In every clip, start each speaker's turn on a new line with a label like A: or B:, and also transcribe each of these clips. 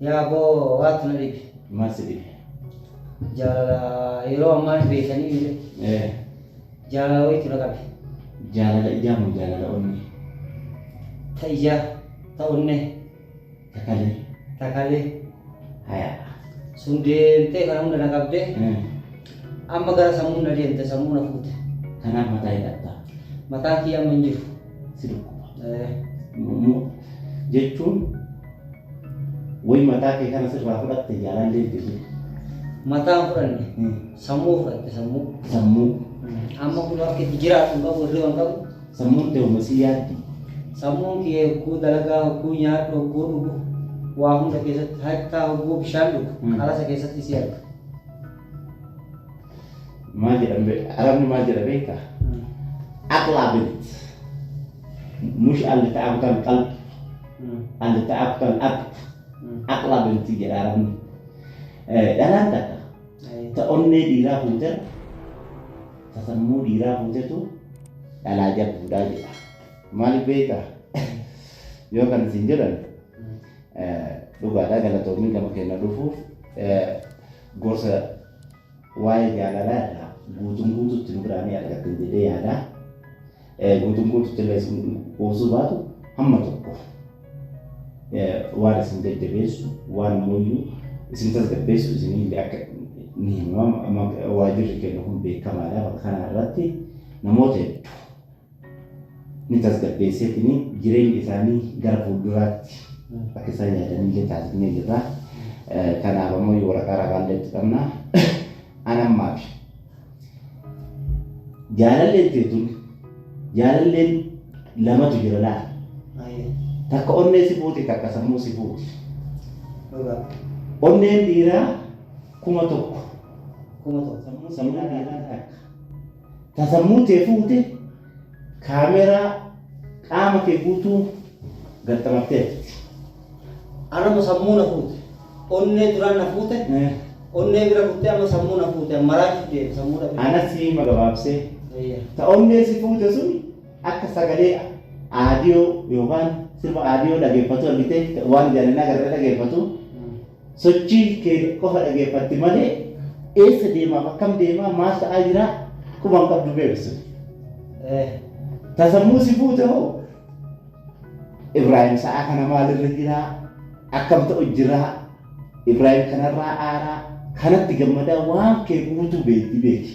A: Yaa
B: boo waatu na dhibe. Maal si dhibe?
A: Jaalala
B: yeroo ammaa hin beekanii mire. Eh, Jaalala wayiitu na qabe. Jaalala ijaa
A: moo jaalala onnee?
B: Ta ijaa, ta onnee, Takalee.
A: ta
B: kalee.
A: Hayaa. Sun
B: deemtee kana hunda na qabdee Eh, amma gara sammuun na deemte sammuu na fuute. Kanaaf mataa hidhatta.
A: Mataan kiyya amma hin
B: jiru. si
A: dhukkuba.
B: Jechuun
A: wayi mataa kee kana sirraa fudhatte jaalallee jirre. Mataa hin
B: fudhanne. Sammuu fudhatte sammuu. Sammuu.
A: Amma kun
B: akka itti jiraatu hin qabu hirriba hin qabu. Sammuun ta'e uumasi
A: yaaddi. Sammuun
B: kee hogguu dalagaa hogguu nyaadhu hogguu dhugu waa hunda keessatti hattaa hogguu bishaan dhugu qalasa keessatti si arga.
A: maal jedhan be- arabni maal jedha beekta aqlaa bint mush alli ta'akuta alqalb alli ta'akuta alaqb aqlaa binti jedha arabni Eh, dhalaan takka ta onnee dhiiraa fuuterra ta sammuu dhiiraa fuutetu dhalaa jabduudhaa jedha maaliif beekta yoo kan isin jedhan eh, dhugaadhaa galatoomii gama keenya dhufuuf eh, Gorsa waa'ee jaalalaa irraa guutuun guutuutti nu biraa ni argattan jedhee yaada. Eh, Guutuun guutuutti illee isin qoosuu baatu hamma tokko eh, waan isin jajjabeessu, waan mooyyuu isin tasgabbeessu isin illee akka ni himama. Amma Waajirri keenya kun beekamaadha bakka kana irratti namoota hedduu ni tasgabbeesseetiin jireenya isaanii gara fuulduraatti akka isaan yaadanillee taasifnee jirra. Kanaaf ammoo yoo waraqaa ragaallee itti qabna. An ammaa fi jaalalleen teetun jaalalleen lamatu jira laal. Ayyee. Takka onnee si fuuti takka sammuu si fuuti. Dhugaa. Onneen dhiiraa kuma tokko Kuma tokko. sammuu dhiiraa takka. Ta sammuu tee fuute kaameeraa qaama kee guutuu gaxxamatteerti.
B: Anatu sammuu na fuute. Onnee duraan na fuute. Onnee bira kuttee amma sammuu na fuute. An maraachuuf deeme sammuu dhabee. Anatti hima gabaabsee.
A: Eeyyee. Ta onnee
B: si fuute
A: sun akka sagalee aadiyoo yookaan sirba aadiyoo dhageeffatu argitee waan ijaan hin agarre dhageeffatu. Sochii kee qofa dhageeffatti malee eessa deemaaf akkam deemaa maal ta'aa jiraa quba hin qabdu beeki sun. Ta sammuu si fuute hoo Ibraahim sa'aa kana maalirra jiraa akkam ta'u jiraa Ibraahim kanarraa aaraa kanatti gammadaa waan kee guutuu beekti beeki.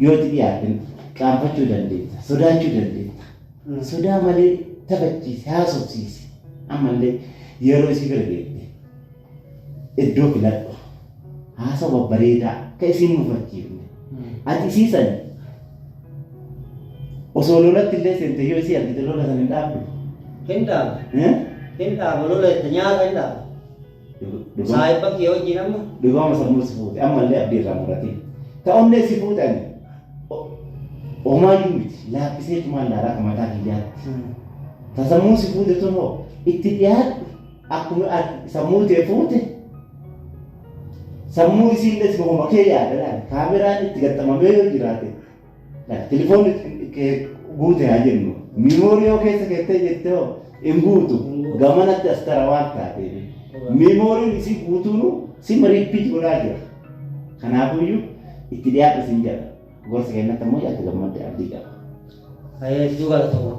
A: Yoo itti dhiyaatte qaanfachuu dandeetta, sodaachuu dandeetta. Sodaa malee taphachiisi, haasofsiisi. Ammallee yeroo isii bira geette iddoo filadhu. Haasawa babbareedaa ka isii hin mufachiifne. Ati isii san osoo lolatti illee seente yoo isii argite lola san hin dhaabdu. Hin dhaaba. Eh? Hin
B: dhaaba lola itti nyaata hin dhaaba. Saahibban kiyya wajjiin amma. Dhugaama sammuu si fuute
A: ammallee abdii irraa muratiin. Ta onnee si fuute ani homaayyuu miti laaffisee tumaan laala akka mataa kiyyaatti. Ta sammuu si fuute tun hoo itti dhiyaadhu akkuma sammuu tee fuute sammuu isiillee si homa kee yaada laali kaameraan itti gaxxamamee yoo jiraate. Like telefoonni kee guute haa jennu miimoorii yoo keessa keettee jettee hoo hin guutu gamanatti as tara waan taateef miimooriin isii guutuun sima riippiit godhaa jira. Kanaafuyyuu itti dhiyaadha siin jedha. Gorsa kennatti ammoo yaadda gammadde abdii qaba. Hedduu
B: galatoomaa.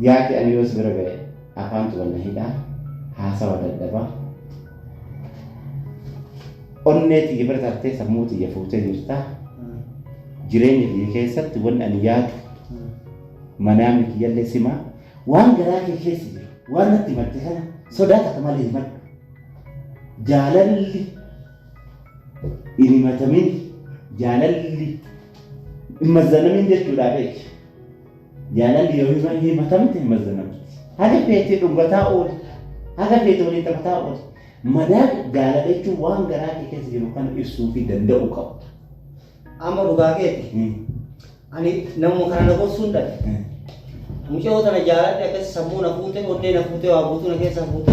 A: Yaati ani yoo si bira ga'e afaantu wal na hidha haasawa dadhaba onnee tiyya bira tartee sammuu tiyya fuutee jirta jireenya kiyya keessatti wanni ani yaadu manaamni kiyyallee sima waan garaa kee keessa jiru waan natti himatte kana sodaa takka malee himadhu jaalalli hin himatamin jaalalli hin mazzanamin jechuudhaa beeki. Jaalalli yoo hirra himatamte hin mazzanamti. Haga feete dhugataa ooli. Haga feete waliin taphataa ooli. Madaan jaalala jechuun waan garaa kee keessa jiru kana ibsuu fi danda'uu qabda. Amma
B: dhugaa keeti. Ani namuma kana na gorsuun dhabe. Mucayoo tana jaaladhe akkasi sammuu na fuute, onnee na fuute, waa guutuu na keessaa fuute.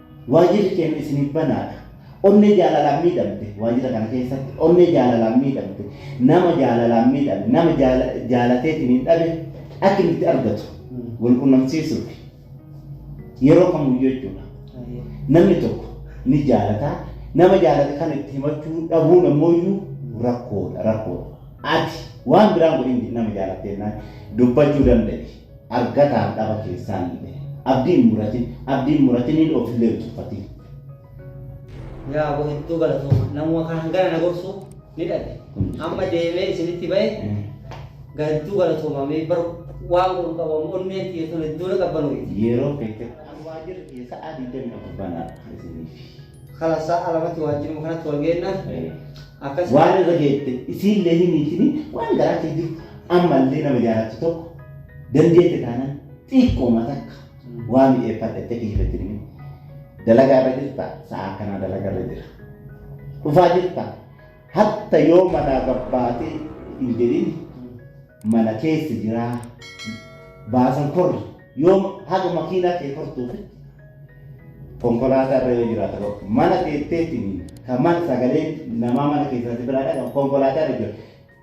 A: Waajjirri keenya isiniif banaadha. Onnee jaalalaan miidhamte waajjira kana keessatti onnee jaalalaan miidhamte nama jaalalaan miidhame nama jaalateetiin hin dhabe akka inni itti argatu wal qunnamsiisuu fi yeroo kamuyyuu jechuudha. Namni tokko ni jaalataa nama jaalate kan itti himachuu dhabuun ammoo iyyuu rakkoodha rakkoodha. Ati waan biraan godhin nama jaalattee naan dubbachuu danda'i. argataa dhaba keessaanillee abdii hin muratin abdii hin muratiniin ofillee hin tuffatin.
B: Yaa aboo hedduu galatooma namuma kan hangana na gorsu ni dhabe amma deemee isinitti bahe ga hedduu galatooma mee bar waan kun qabamu onneen xiyyeessuun hedduu na qabbanooyiti. Yeroo feete kan
A: waajjirri kiyya sa'aa 24 banaa isiniif. Khalas sa'a
B: lamatti waajjiruma kanatti wal geenna. Akkas Waan irra geette
A: isiillee himiitini waan garaa kee jiru ammallee nama jaalatu tokko dandeette taanaan xiqqooma takka waa mi'eeffadha itti akka jirretti himi. Dalagaa irra jirta sa'a kanaa dalagaa irra jira. Dhufaa jirta hatta yoo manaa barbaadee hin jedhin mana keessa jiraa baasan korri yoo haga makiinaa kee kortuufi konkolaataa irra yoo jiraata bakka mana teetteetiin kan mana sagalee namaa mana keessatti biraa dhagan konkolaataa irra jira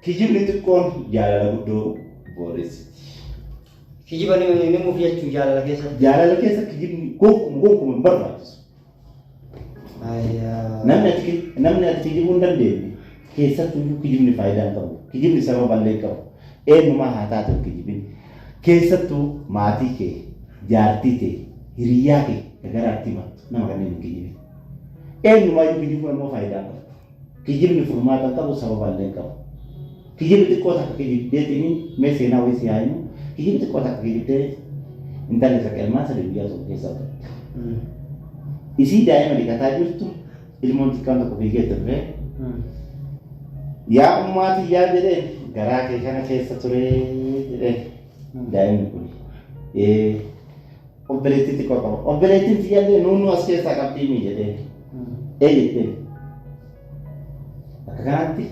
A: kijibni xiqqoon jaalala guddoo booressiti.
B: Kijiba ni ni muuf jechuu jaalala keessatti. Jaalala keessa kijibni
A: gonkumaa gonkumaa hin barbaachisu. Namni ati ki- namni ati kijibuu hin dandeenye keessattuu iyyuu kijibni faayidaa hin qabu. Kijibni sababa illee hin qabu. Eenyumaa haa taatu hin kijibin. Keessattuu maatii kee, jaartii tee, hiriyyaa kee ka garaatti himattu nama kanneen hin kijibin. Eenyumaa iyyuu kijibuun ammoo faayidaa hin qabu. Kijibni furmaata hin qabu sababa illee hin qabu. Kijibi xiqqoo takka kijibdee tiniin mee seenaa wayii si haa himu. Kijibi xiqqoo takka kijibdee intalli takka ilmaan sadii guyyaa tokko keessa argatte. Isii daa'ima dhiqataa jirtu ilmoon xiqqaan tokko fiigee itti dhufee yaa ummaa tiyyaa jedheen garaa kee kana keessa turee jedheen daa'imni kun. Ee Obboleettii xiqqoo qaba. Obboleettiin tiyyallee nuunnuu as keessaa qabdii mii jedhee. Ee jettee. Akka kanatti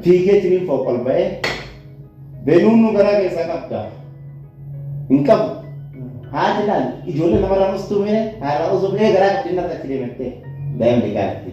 A: fiigeetiin hin fooq ol ba'ee benuunnuu garaa keessaa qabda. Hin qabu. Haati laal ijoollee namarraa mustuu mee haadha osoo mee garaa qabdi inni irra achi deemattee daa'imni gaaritti.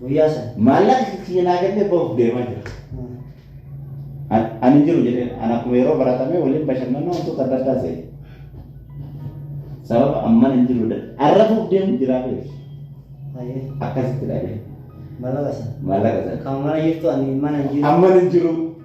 A: Guyyaa san.
B: Maallaqa kiyya naa
A: kennee bahuuf deemaa jira. An- Ani hin jiru jedhee an akkuma yeroo baratamee waliin bashannanaa wantoota adda addaa se'e. Sababa amman hin jiru da- arrafuuf deemu jiraa beeku. Hayyee. Akkasitti dhabee Maallaqa san.
B: maallaqa sana. Kan mana
A: jirtu ani
B: mana hin jiru. Amman hin jiru.